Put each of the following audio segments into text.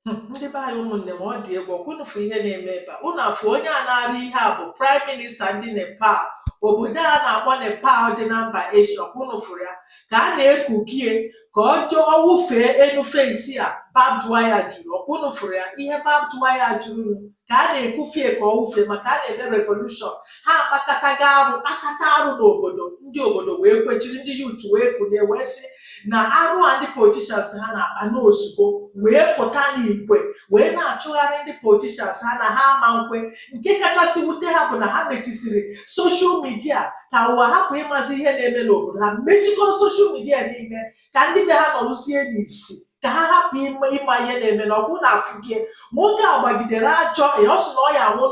Hmm, ndị be anyị ụmụnne m ọ dị egwu ọkwa ụnụ fụ ihe na-eme ebe a ụnụ afụ onye a na-arị ihe a bụ praịm minista ndị nepal obodo a na-akpọ nepal dị na mba eshia ọkwa ụnụ fụrụ ya ka a na-ekukie ka ọ jụọ wụfee enu fensi a babdwaya juru ọkwa ụnụ fụrụ ya ihe babdwaya juru ka a na-ekufie ka ọ wụfee maka a na-eme revolushọn ha akpakataga arụ kpakata arụ n'obodo ndị obodo wee kwechiri ndị yut wee kunie wee sị na arụ a ndị politishans ha na-akpa na o zugo wee pụta n'igwe wee na-achụgharị ndị politishans ha na ha ama nkwe nke kachasị wute ha bụ na ha mechisiri soshal midia ka ụwa hapụ ịmazi ihe na-eme n'obodo ha mechikọrọ soshal midia niile ka ndị be ha nọrụzie n'isi ka ha hapụ ịma ihe na-eme na ọkwa ụnụ afụgie nwoke a gbagidere achọ ya ọ sị na ọ ya anwụ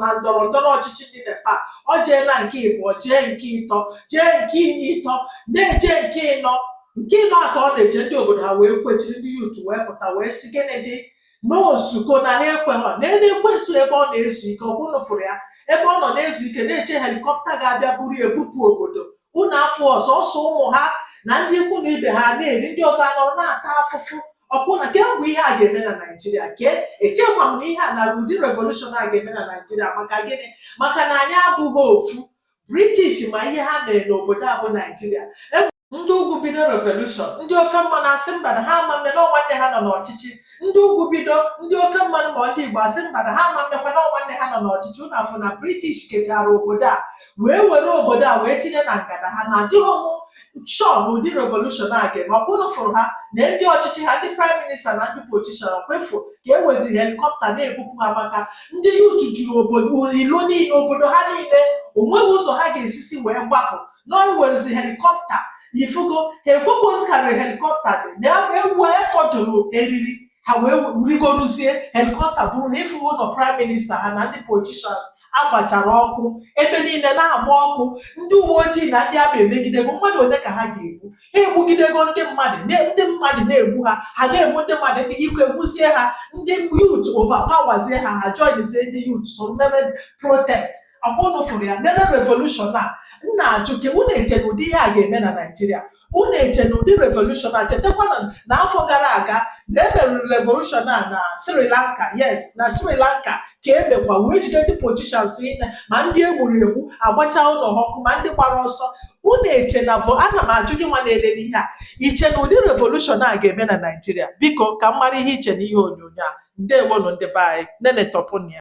na ndọrọ ndọrọ ọchịchị ndị nepal ọ jeela nke ịbụọ jee nke ịtọ jee nke ịtọ na-eje nke ịnọ nke ịnọ a ka ọ na-eje ndị obodo ha wee kwechiri ndị yut wee pụta wee sị gịnị dị na o zugo na ha ekweghọ nene ekwensu ebe ọ na-ezu ike ọkwa ụnụ fụrụ ya ebe ọ nọ na-ezu ike na-eche helikọpta ga-abịa buru ya bupụ obodo unu afụ ọ sọsọ ụmụ ha na ndị ikwu na ibe ha na-eri ndị ọzọ anọrọ na-ata afụfụ ọkwụ na kee mgbe ihe a ga-eme na naijiria kee echekwa m na ihe a na ụdị revolushọn a ga-eme na naijiria maka gịnị maka na anyị abụghị ofu british ma ihe ha mere n'obodo a bụ naijiria ndị ugwu bido revolushọn ndị ofe mmanụ asị mba na ha ama mme na ọ nwanne ha nọ n'ọchịchị ndị ugwu bido ndị ofe mmanụ ma ndị igbo asị mba na ha ama mmekwa na ọ nwanne ha nọ n'ọchịchị ụnụ afụ na british kechara obodo a wee were obodo a wee tinye na ngada ha na adịghị m shọ na ụdị revolushọn a ga-eme ọkwa ụnụ fụrụ ha na ndị ọchịchị ha ndị praịm minista na ndị politishan ọkwa ị fụ ka e weziri helikọpta na-ebupụ ha maka ndị yut juru obodo ilo niile obodo ha niile onweghị ụzọ ha ga-esizi wee gbapụ na e werezi helikọpta ifugo ha ekwekwa ozi karịrị helikọpta dị na ya ewee tọdụrụ eriri ha wee rigoruzie helikọpta buru ha ịfụgo ụlọ praịm minista ha na ndị politishans agbachara ọkụ ebe niile na-agba ọkụ ndị uwe ojii na ndị amị emegidego mmadụ ole ka ha ga-egbu ha egbugidego ndị mmadụ ndị mmadụ na-egbu ha ha na-egbu ndị mmadụ ndị ike agwụzie ha ndị yut overpowerzie ha ha joinzie ndị yut so mebe protest ọkwa ụnụ fụrụ ya mebe revolushon a m na-ajụ kee unu eche na ụdị ihe a ga-eme na naijiria unu eche na ụdị revolushon a chetakwa na afọ gara aga na emerụrụ revolushon a na sri lanka yes na sri lanka ka e mekwa wee jide ndị politishans niile ma ndị e gburu egbu agbacha ụlọ ha ọkụ ma ndị gbara ọsọ unu eche na vo ana m ajụ gị nwa na-elene ihe a i che na ụdị revolushọn a ga-eme na naijiria biko ka m mara ihe i che na ihe onyonyo a ndewonụ ndị be anyị nenetọpụnụ ya